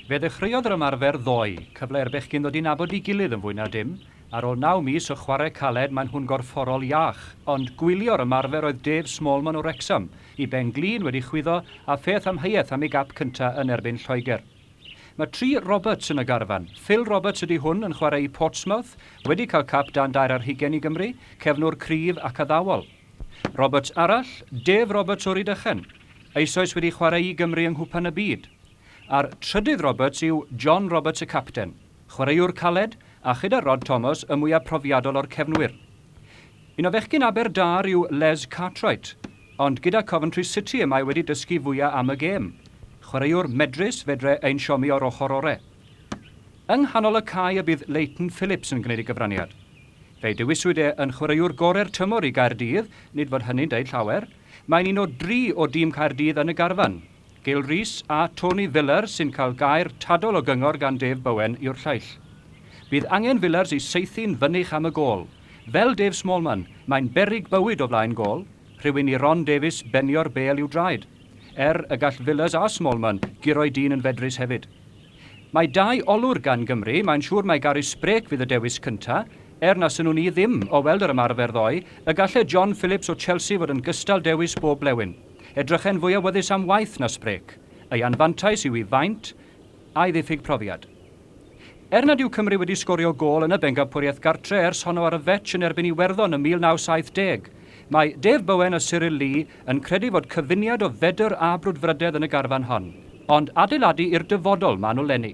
Fe ddechreuodd yr ymarfer ddoe, cyfle i'r bechgyn ddod i nabod ei gilydd yn fwy na dim. Ar ôl naw mis o chwarae caled maen nhw'n gorfforol iach. Ond gwylio'r ymarfer oedd Dave Smallman o Wrecsam, i ben glin wedi chwyddo a pheth amheuaeth am ei gap cyntaf yn erbyn Lloegr. Mae tri Roberts yn y garfan. Phil Roberts ydy hwn yn chwarae i Portsmouth, wedi cael cap dan dair ar hugain i Gymru, cefnwr cryf ac addawol. Roberts arall, Dave Roberts o Rydychen, eisoes wedi chwarae i Gymru yng Nghwpan y Byd. A'r trydydd Roberts yw John Roberts y capten, chwaraewr caled, a chyda Rod Thomas y mwyaf profiadol o'r cefnwyr. Un o fechgyn Aber Dâr yw Les Cartwright, ond gyda Coventry City y mae wedi dysgu fwya am y gêm. Chwaraewr medrus, fedre ein siomi o'r ochr ore. Yng nghanol y cae y bydd Leighton Phillips yn gwneud ei gyfraniad. Fe'i dewiswyd e yn chwaraewr gorau'r tymor i Gaerdydd, nid fod hynny'n deud llawer. Mae'n un o dri o dîm Caerdydd yn y garfan. Gil Rees a Tony Villars sy'n cael gair tadol o gyngor gan Dave Bowen yw'r lleill. Bydd angen Villars i saethu'n fynych am y gôl. Fel Dave Smallman, mae'n beryg bywyd o flaen gôl, rhywun i Ron Davies benio'r bêl i'w draed. Er y gall Villars a Smallman guro'u dyn yn fedrus hefyd. Mae dau olwr gan Gymru, mae'n siŵr mai Garry Sprake fydd y dewis cynta', er na synnwn i ddim, o weld yr ymarfer ddoe, y galle John Phillips o Chelsea fod yn gystal dewis bob blewyn. Edrychen fwy awyddus am waith na Sprake. Ei anfantais yw 'i faint, a'i ddiffyg profiad. Er nad yw Cymru wedi sgorio gôl yn y bencampwriaeth gartre' ers honno ar y fetsh yn erbyn Iwerddon ym 1970, mae Dave Bowen a Cyril Lee yn credu fod cyfuniad o fedr a brwdfrydedd yn y garfan hon, ond adeiladu i'r dyfodol maen nhw lenni.